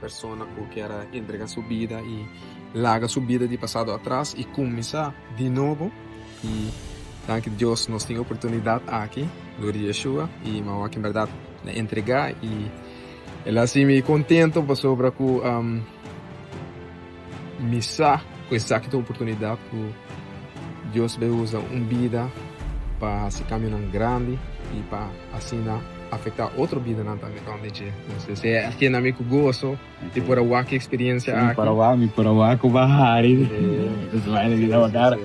Persona ku kier a entregá su bida i laga su bida di pasado atras i kuminsá di nobo. I danki Dios nos tin e oportunidat aki lor di Yeshua i mi awor aki bèrdat mi a entregá i el a hasi mi kontentu pasobra ku. Mi sa ku esaki ta un oportunidat ku Dios bai usa un bida pa hasi kambionan grandi i pa asina afektá otro bidanan tambe rònt dje. Entonces e a kena mi ku goso di por a wak e eksperiencia aki. Mi por a wak, mi por a wak ku bahari. Entonces bai na bida wakara.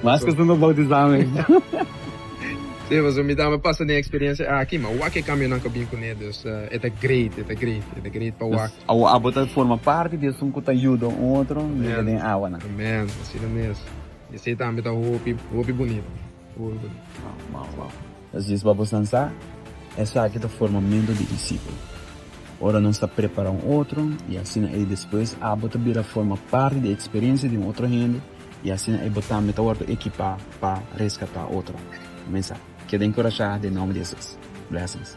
Mas ku sumber boutisá mes. Si, pasobra mi tambe a pasa den e eksperiencia aki, mi a wak e kambionan ku a bin kuné. Dus e ta great, e ta great, e ta great pa wak. Awo abo ta forma parti di esun ku ta yuda un otro yega den awanan. Amen. Asina mes. Esei tambe ta hopi, hopi bunita. Hopi bunita. Wow, wow, wow. Ta zies pa bosnan sa? Esaki ta formamentu di disipel. Ora nos ta prepara un otro, i asina ei despues abo ta bira forma parti di eksperiensia di un otro hende, i asina ei bo tambe ta wòrdu ekipá pa reskatá otro. Amen sa? Keda enkurashá den nomber di Hesus. Blessings.